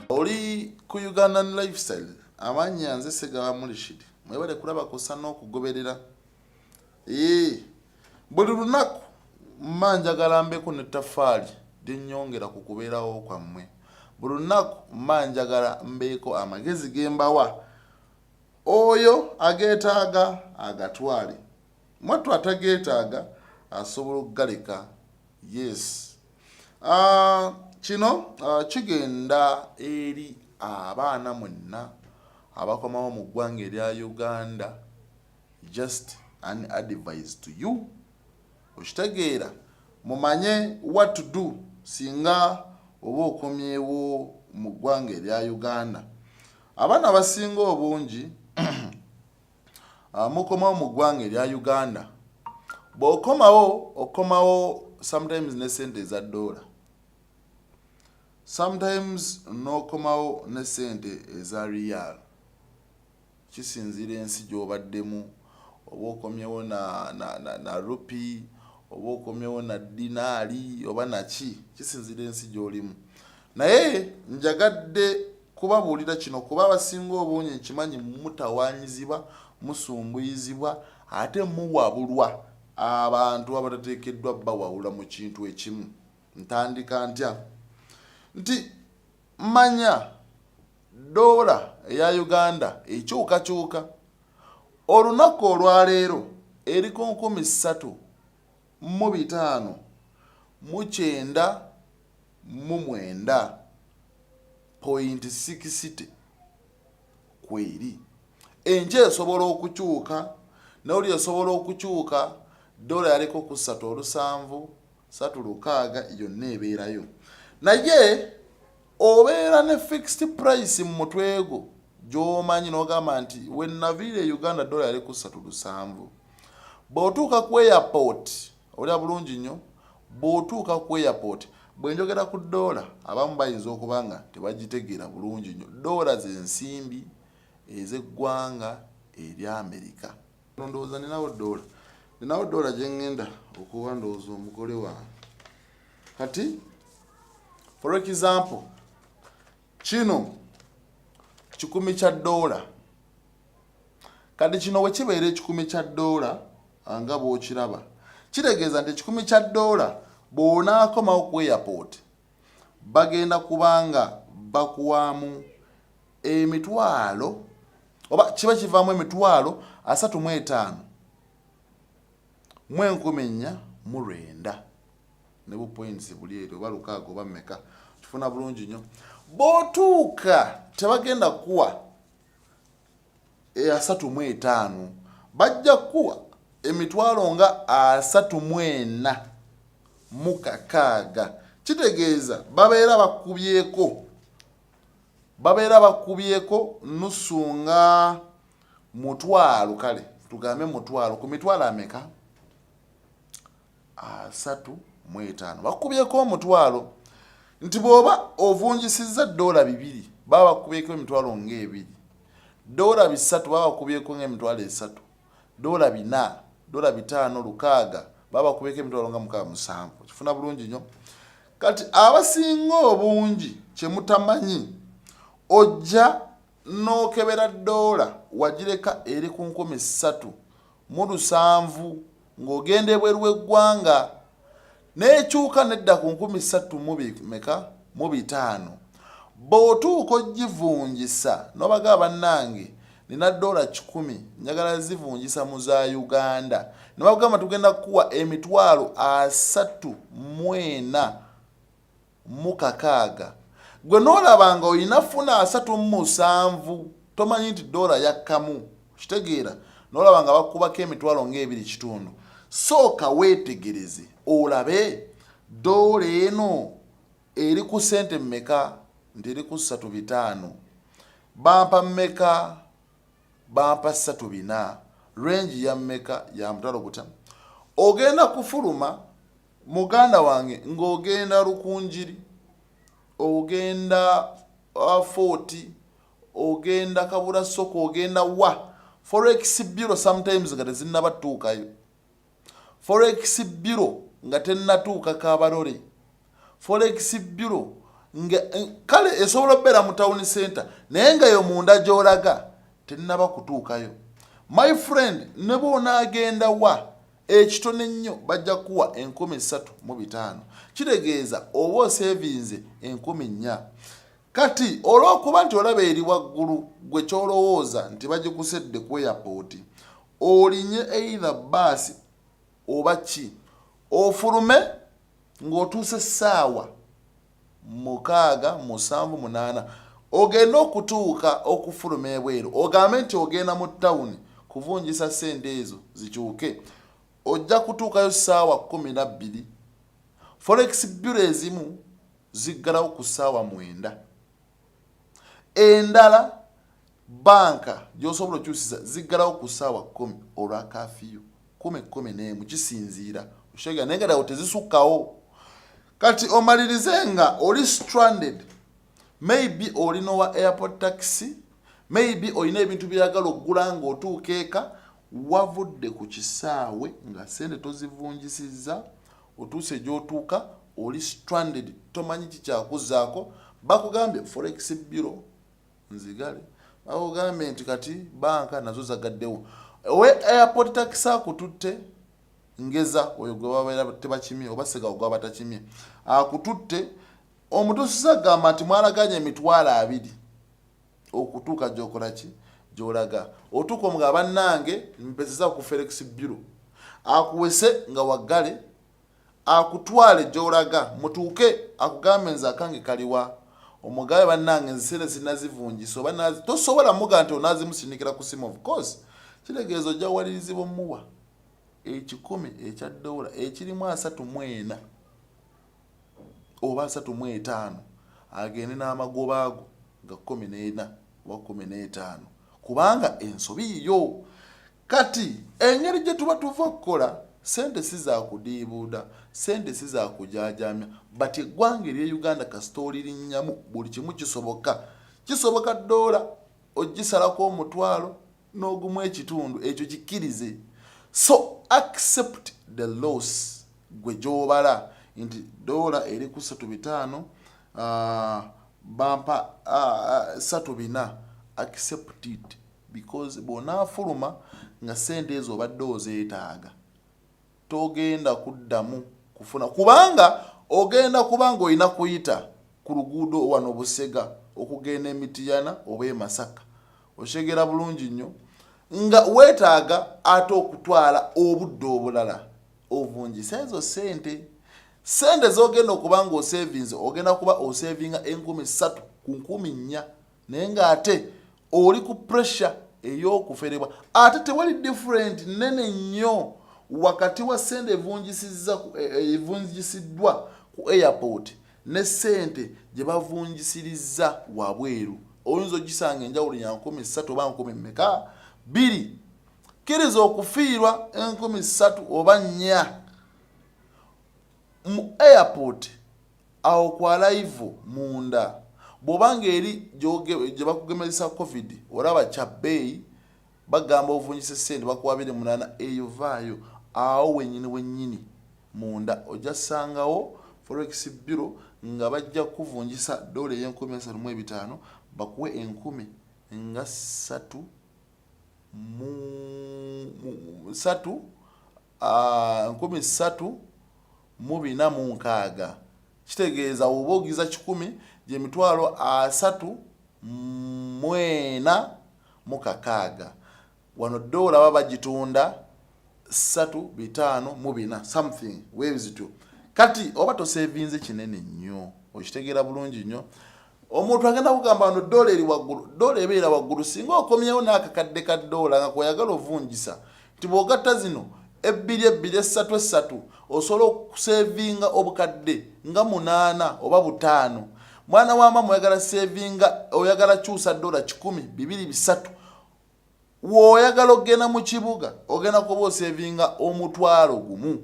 oli ku ugandan lifestyle amanya nze segaba mulishidi mwebale kulaba kusa n'okugoberera ee buli lunaku mma njagala mbeku ne tafaali lyenyongera ku kubeerawo kwammwe buli lunaku mma njagala mbeeko amagezi gembawa oyo ageetaaga agatwale Mwattu atageetaaga asobola okugaleka. Yes. Uh, kino uh, kigenda eri abaana mwenna abakomawo mu ggwanga erya Uganda just an advice to you okitegeera mumanye what to do singa oba okomyewo mu ggwanga erya uganda abaana abasinga obungi Ah, mukomawo mu ggwanga erya uganda bwokomawo okomawo sometimes ne sente eza doola sometimes nokomawo ne sente eza real kisinziira ensi gyobaddemu oba okomyewo na, na, na, na rupi oba okomyewo na dinaali oba naki kisinziira ensi gyolimu Naye njagadde kubabuulira kino kuba abasinga obungi nkimanyi mutawaanyiziba, musumbuyizibwa ate muwabulwa abantu abatateekeddwa bawawula mu kintu ekimu. Ntandika ntya? Nti manya ddoola eya Uganda ekyukakyuka. Olunaku olwaleero eri ku nkumi ssatu mu bitaano mu kyenda mu mwenda point sikisite kweri enje esobola okukyuka nawuli esobola okukyuka dola yaliko ku satu olusanvu satu lukaaga yonna ebeerayo naye obeera ne fixed price mu mutwego gyomanyi nogamba nti wenaviire e uganda dola yali ku satu lusanvu bwotuuka ku airport Olya bulungi nnyo bw'otuuka ku airport. Bwe njogera ku ddoola abamu bayinza okuba nga tebagitegeera bulungi nnyo. Ddoola ze nsimbi ez'eggwanga erya Amerika. Wano ndowooza ninawo ddoola. Ninawo ddoola gye ngenda okuwa ndowooza omugole wange. Kati for example kino kikumi kya ddoola. Kati kino bwe kibeera ekikumi kya ddoola nga bw'okiraba, kitegeeza nti ekikumi kya ddoola bw'onaakomawo ku airport bagenda kuba nga bakuwaamu emitwalo oba kiba kivaamu emitwalo asatu mu etaano mu enkumi nnya mu lwenda ne bu points buli eri oba lukaaga oba meka kifuna bulungi nnyo bw'otuuka tebagenda kuwa e asatu mu etaano bajja kukuwa emitwalo nga asatu mu ena mu kakaaga kitegeeza babeera bakubyeko babeera bakubyeko nusu nga mutwalo kale tugambe mutwalo ku mitwalo ameka asatu mu etaano bakubyeko omutwalo nti bw'oba ovunjisizza ddoola bibiri baba bakubyeko emitwalo ng'ebiri ddoola bisatu baba bakubyeko ng'emitwalo esatu ddoola bina ddoola bitaano lukaaga baba bakubyeko emitwalo nga mukaaga musanvu kifuna bulungi nnyo kati abasinga obungi kye mutamanyi ojja n'okebera ddoola wagireka eri ku nkumi ssatu mu lusanvu ng'ogenda ebweru w'eggwanga n'ekyuka nedda ku nkumi ssattu mubimeka mu bitaano bw'otuuka ogivungisa n'obaga bannange nina doola kikumi njagala zivungisa mu za uganda ne bagamba tugenda kukuwa emitwalo asatu mwena mu kakaaga. Gwe n'olaba nga olina funa asatu mu musanvu tomanyi nti doola yakkamu, okitegeera, n'olaba nga bakubako emitwalo ng'ebiri kitundu. Sooka weetegereze olabe doola eno eri ku ssente mmeka nti eri ku ssatu bitaano, bampa mmeka bampa satu bina range ya meka ya mutalo buta ogenda kufuluma muganda wange ng'ogenda lukunjiri ogenda uh, foti ogenda kabula soko ogenda wa forex bureau sometimes nga tezinnabatuukayo Forex Bureau nga tennatuuka Kabarole. Forex Bureau nga eh, kale esobola okubeera mu town center naye nga yo munda gy'olaga tennaba kutuukayo. My friend ne bw'onaagenda wa ekitone ennyo bajja kuwa enkumi ssatu mu bitaano kitegeeza oba osevinze enkumi nnya kati olw'okuba nti olaba eri waggulu gwe ky'olowooza nti bagikusedde ku eyapooti olinye either bbaasi oba ki ofulume ng'otuuse ssaawa mukaaga musanvu munaana ogende okutuuka okufuluma ebweru ogambe nti ogenda mu tawuni kuvunjisa ssente ezo zikyuke ojja kutuukayo ssaawa kkumi na bbiri forex byuro ezimu ziggalawo ku ssaawa mwenda endala Bbanka gy'osobola okyusiza ziggalawo ku ssaawa kkumi olwa kafiyu kumi kkumi n'emu kisinziira okitegera naye nga dawo tezisukkawo kati omalirize nga oli stranded maybe oli n'owa airport taxi maybe olina ebintu byeyagala okugula ng'otuuka eka wavudde ku kisaawe nga sente tozivunjisizza otuuse gy'otuuka oli stranded tomanyi kikyakuzaako bakugambye forex bureau nzigale bakugambye nti kati banka nazo zagaddewo owe airport tax akututte ngeza oyo gwe babeera tebakimye oba segawo gwe batakimye akututte omutusiza gamba nti mwalaganya emitwalo abiri okutuuka gyokola ki gyolaga otuuka omuga bannange mpezeza ku felix buro akuwese nga waggale akutwale gyolaga mutuuke akugambe nze akange kaliwa omugabe banange nze sente sinazivungisa oba nazi tosobola muga nti onazimusindikira ku simu of course kitegeeza ojja walirizibwa omuwa ekikumi ekya dola ekirimu asatu mwena oba asatu mu etaano agende n'amagoba ago nga kumi n'ena oba kumi n'etaano kubanga ensobi yiyo Kati engeri gye tuba tuva okukola sente si za kudiibuuda sente si za kujaajamya but eggwanga erye uganda kasita olirinnyamu buli kimu kisoboka kisoboka doola ogisalako omutwalo n'ogumu ekitundu ekyo kikkirize so accept the loss gwe gyobala nti doola eri ku satu bitaano uh, bampa uh, satu bina accept it because bw'onaafuluma nga ssente ezo obadde ozeetaaga togenda kuddamu kufuna kubanga ogenda kuba ng'olina kuyita ku luguudo wano Busega okugenda e Mityana oba e Masaka okitegeera bulungi nnyo nga weetaaga ate okutwala obudde obulala ovunjisa ezo ssente ssente z'ogenda okuba ng'osevinze ogenda kuba osevinga enkumi ssatu ku nkumi nnya naye ng'ate oli ku pressure ey'okuferebwa ate tewali different nene nnyo wakati wa sente evunjisiza e, e, evunjisiddwa ku airport ne sente gye bavunjisiriza wabweru oyinza ogisanga enjawulo ya nkumi ssatu oba nkumi mmeka bbiri kkiriza okufiirwa enkumi ssatu oba nnya mu airport Awo ku alive munda bwoba nga eri gyebakugemezesa covid olaba kyabeeyi bagamba ovunjise sente bakuwa abiri munana eyo vaayo awo wenyini wenyini munda ojja sangawo forex bureau nga bajja kukuvunjisa dollar eyenkumi asatu mu ebitaano bakuwe enkumi nga satu mu satu nkumi ssatu mu bina mu nkaaga kitegeeza woba ogiza kikumi gye mitwalo asatu mwena mu kakaaga wano doola baba bagitunda ssatu bitaano mu bina something webzityo kati oba tosevinze kinene nnyo okitegeera bulungi nnyo omuntu agenda kugamba no dola eri waggulu dola ebeera waggulu singa okomyewo n'akakadde ka doola nga kweyagala ovunjisa nti bwogatta zino ebbiri ebbiri essatu essatu osobola okusevinga obukadde nga munaana oba butaano mwana wa mama oyagala sevinga oyagala kyusa dola kikumi bibiri bisatu W'oyagala okugenda mu kibuga ogenda kuba osevinga omutwalo gumu.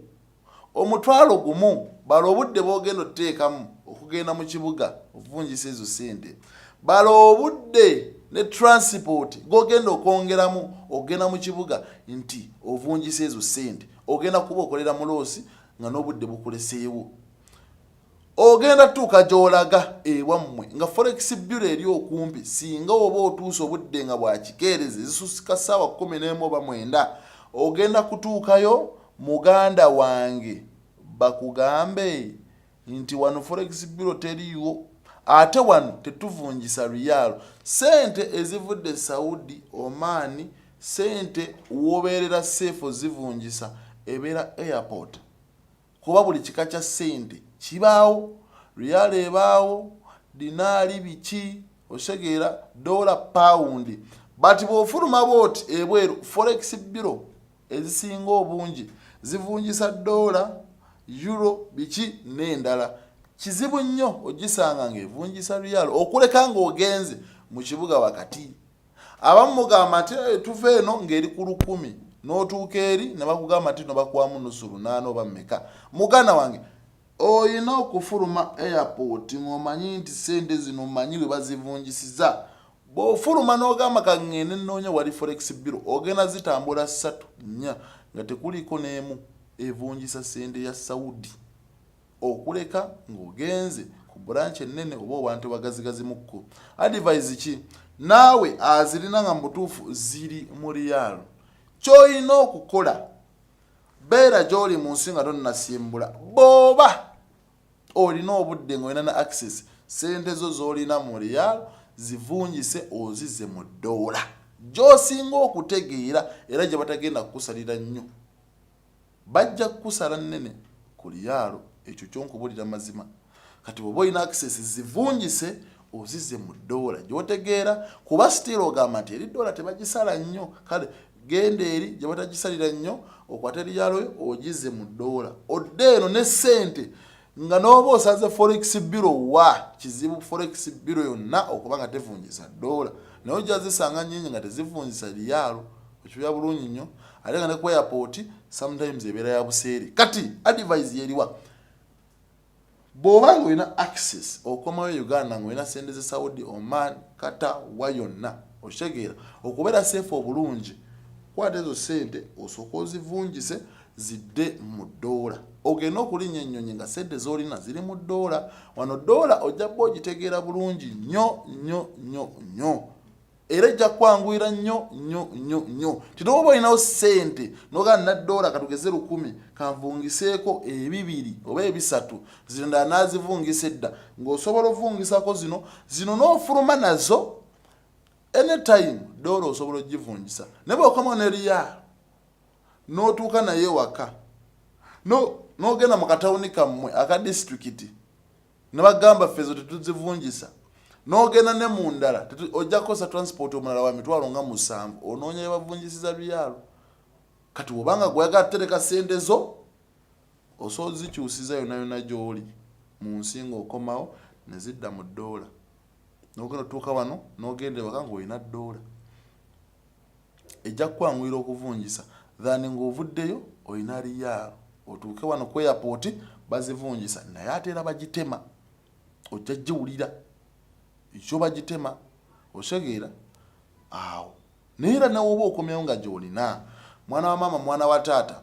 Omutwalo gumu bala obudde bw'ogenda oteekamu okugenda mu kibuga okuvunjisa ezo ssente. Bala obudde ne transport g'ogenda okwongeramu okugenda mu kibuga nti ovunjisa ezo ssente. Ogenda kuba okolera mu loosi nga n'obudde bukuleseewo. ogenda tuuka gy'olaga ewammwe nga forex bureau eri okumpi singa oba otuuse obudde nga bwakikeerezi zisusika ssaawa kkumi n'emu oba mwenda ogenda kutuukayo muganda wange bakugambe nti wano forex bureau teriiwo ate wano tetuvunjisa riyaalo sente ezivudde saudi omaani sente wobeerera seefu zivunjisa ebeera airport kuba buli kika kya ssente kibaawo riyaala ebaawo dinaali biki osegeera doola pawundi but bwofuluma booti ebweru forex biro ezisinga obungi zivunjisa doola euro biki n'endala kizibu nnyo ogisanga ng'evunjisa riyaala okuleka ng'ogenze mu kibuga wakati Abamu mugamba nti eh, tuva eno ng'eri ku lukumi n'otuuka eri ne bakugamba nti no bakuwamu nusu lunaana oba meka muganda wange olina okufuluma airport ng'omanyi nti sente zino omanyi bwe bazivunjisiza bw'ofuluma n'ogamba kangende nnoonya wali forex biro ogenda zitambula ssatu nnya nga tekuliiko n'emu evunjisa sente ya saudi okuleka ng'ogenze ku branch ennene oba owantu bagazigazimukko advise ki naawe azirina nga mubutuufu ziri mu riyaalo kyolina okukola beera gyoli mu nsi nga tonnasimbula booba olina obudde ngaolina ne access sente zo zolina mu riyaalo zivungise ozize mu ddoola gyosinga okutegeera era gye batagenda kukusalira nnyo Bajja kukusala nnene ku liyaalo ekyo kyo nkubulira mazima. Kati bwoba olina access zivunjise ozize mu doola gyotegeera kuba still ogamba nti eri doola tebagisala nnyo kale genda eri gye batagisalira nnyo okwate liyaalo yo ogize mu doola odde eno ne ssente nga n'oba osaze forex biro wa kizibu forex biro yonna okuba nga tevunjisa doola naye ojja zisanga nyingi nga tezivunjisa liyaalo okibya bulungi nnyo ate nga ne ku airport sometimes ebeera ya buseere kati advise yeriwa bw'oba nga olina access okomawo e uganda nga olina sente ze saudi oman kata wa yonna okitegeera okubeera safe obulungi kwata ezo sente osooka ozivunjise zidde mu ddoola ogenda okulinnya ennyonyi nga sente z'olina ziri mu ddoola wano ddoola ojja bba ogitegeera bulungi nnyo nnyo nnyo nnyo era ejja kwanguyira nnyo nnyo nnyo nnyo ti nowoba olinawo sente noga naddoola katugeze lukumi kanvungiseeko ebibiri oba ebisatu zino ndala nazivungisa edda ng'osobola ovungisako zino zino n'ofuluma nazo anytime doola osobola ogivungisa naye bwokoma neriyaa n'otuuka naye ewaka n'ogenda mu katawuni kammwe aka disitulikiti ne bagamba ffe ezo tetuzivunjisa n'ogenda ne mu ndala ojja kukozesa transport omulala wa mitwalo nga musanvu onoonya bye bavunjisiza luyaalo kati obanga gweyagala tutereka sente zo osobola ozikyusiza yona yona gyoli mu nsi ngaokomawo ne zidda mu ddoola nogenda otuuka wano nogenda ewaka ngaolina ddoola ejja kukwanguyira okuvunjisa than ng'ovuddeyo olina liyaalo otuuke wano ku airport bazivunjisa naye ate era bagitema ojja giwulira ekyo bagitema osegeera awo naye era nawe oba okomyawo nga gyolina mwana wa maama mwana wa taata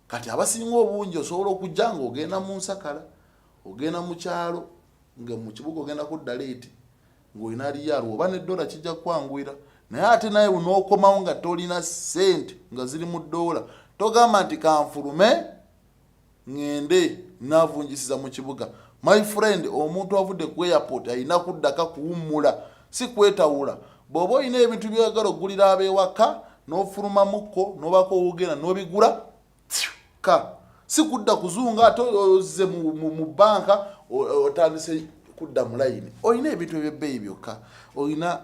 kati abasinga obungi osobola okujja nga ogenda mu nsakala ogenda mu kyalo nga mu kibuga ogenda kudda leeti ng'olina liyaalwa oba ne doola kijja kukwanguyira naye ate naye unookomawo nga tolina ssente nga ziri mu doola togamba nti kanfulume ngende navungisiza mu kibuga my friend omuntu avudde ku airport alina kuddaka kuwummula si kwetawula bw'oba olina ebintu byoyagala okugulira ab'ewaka nofuluma muko nobako ogena nobigula ka sikudda kuzunga ate oze mu banka otandise kudda mu layini olina ebintu ebyebbeeyi byokka olina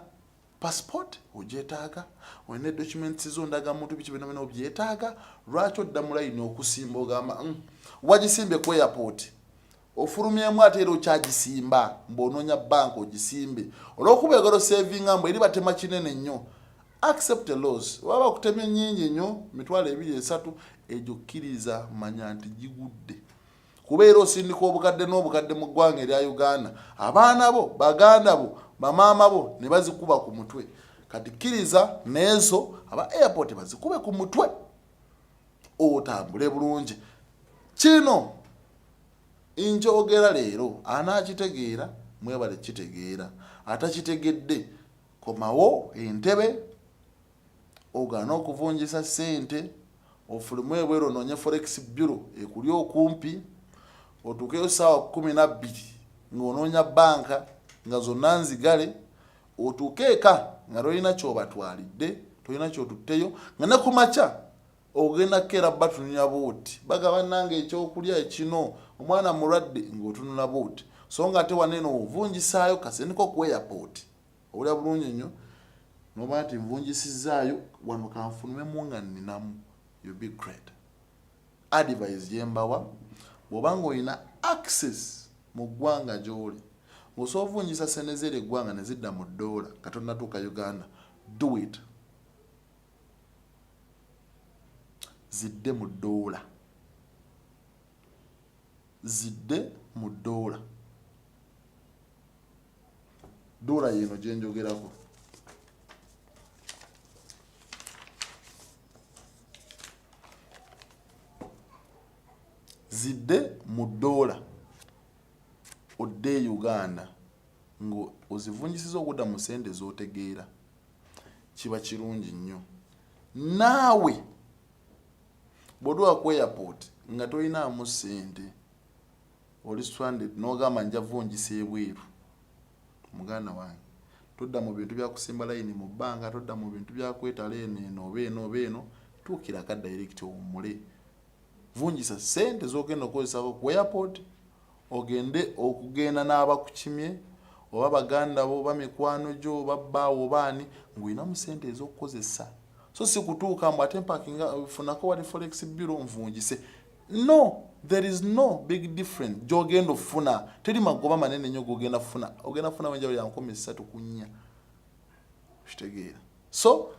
passport ogyetaaga olina documents zo ndaga muntu biki byona byona obyetaaga lwaki odda mu layini okusimba ogamba mm, wagisimbye ku airport ofulumyemu ate era okyagisimba mbu onoonya banka ogisimbe olwokuba egalo savinga mbu eri batema kinene nnyo accept a loss waba okutemye nyingi nyo mitwalo ebiri esatu egyo kkiriza manya nti gigudde kubeera osindika obukadde n'obukadde mu ggwanga erya uganda abaana bo baganda bo bamaama bo ne bazikuba ku mutwe kati kkiriza neezo aba airport bazikube ku mutwe otambule bulungi kino nkyogera leero anaakitegeera mwebale kitegeera atakitegedde komawo entebe ogaana okuvunjisa sente ofulumu ebweru onoonye forex bureau ekuli okumpi otuukeyo saawa kumi nabbiri ng'onoonya banka nga zonna nzigale otuuke eka nga tolina kyobatwalidde tolina kyotutteyo nga ne ku makya ogenda kukeera batununya buuti bagaba nange ekyokulya ekino omwana mulwadde ng'otunula buuti so nga ate waneeno ovunjisaayo kasente ko ku airport owulira bulungi nnyo noba nti nvunjisizzaayo wano kanfunumemu nga nninamu you be great advise gyembawa bwoba nga olina access mu ggwanga gy'oli ng'osobola ovunjisa sente zeera eggwanga ne zidda mu ddoola nga tonnatuuka uganda do it zidde mu ddoola zidde mu ddoola Dora yeno gyenjogerako. zidde mu doola odde e uganda ngaozivunyisiza okudda mu sente zotegeera kiba kirungi nnyo naawe bwodwa ku airport nga tolinamu sente oli stranded nogamba nja vungisa ebweru muganda wange todda mu bintu byakusimba layini mu bbanga todda mu bintu byakwetala eno eno oba eno oba eno tuukira ka direct owummule vungisa sente zogenda okukozesako ku airport ogende okugenda n'abakukimye oba baganda bo oba mikwano gyo oba bbaawo oba ani ng'olina mu sente ez'okukozesa so si kutuuka mbu ate mpakinga funako wali forex biro nvungise no there is no big difference gyogenda ofuna teri magoba manene nyo gogenda funa ogenda funa wenjawulo ya nkumi ssatu ku nnya kitegeera so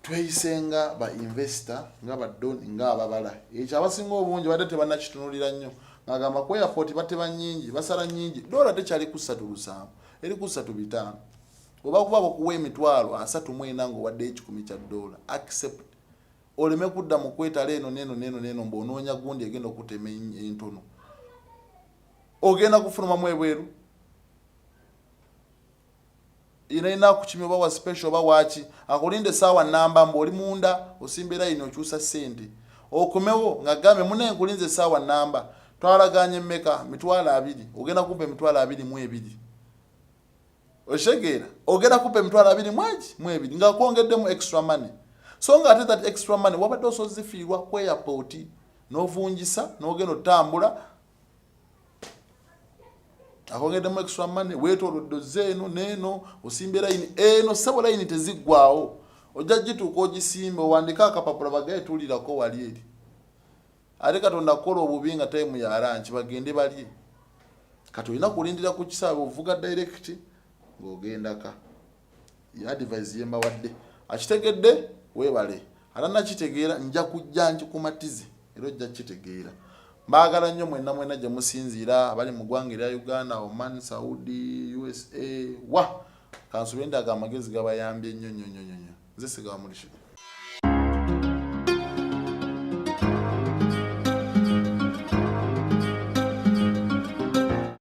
tweyisenga ba investor nga badoni nga ababala ekyo abasinga obungi badde tebanakitunulira nnyo ngagamba ku airport bateba nyingi basala nyingi dola tekyali ku ssatu lusanvu eri ku ssatu bitaano oba kuba bakuwa emitwalo asatu mwena ngaowadde ekikumi kya dola accept oleme kudda mu kwetala eno neno neno neno mbu onoonya gundi egenda okutema entono ogenda kufulumamu ebweru inaina kukimya oba wa special oba waki akulinde saawa namba mbu oli munda osimba erayini okyusa sente okumewo nga gambe mune nkulinze saawa namba twalaganye meka mitwalo abiri ogenda kumpa emitwalo abiri mu ebiri okitegeera ogenda kupa emitwalo abiri mwegi mwebiri nga kwongeddemu extra money so nga ate that extra money wabadde osozifiirwa ku airport novungisa nogenda otambula akongeddemu extra money wetolodde ozze eno neeno osimba erayini eno sebo layini teziggwawo ojja gituuka ogisimba owandika akapapula bagaye tuulirako wali eri ate katonda kukola obubi nga time ya lunch bagende balye kati olina kulindira ku kisaabe ovuga direct ng'ogendaka ye advise yembawadde akitegedde webale ate nakitegeera nja kujja nkikumatize era ojja kukitegeera mbaagala nnyo mwena mwena gye musinziira abali mu ggwanga erya uganda oman saudi usa wa kansubendaaga amagezi gabayambye nnyo nnyo nnyo nnyo nze sigawa mulishi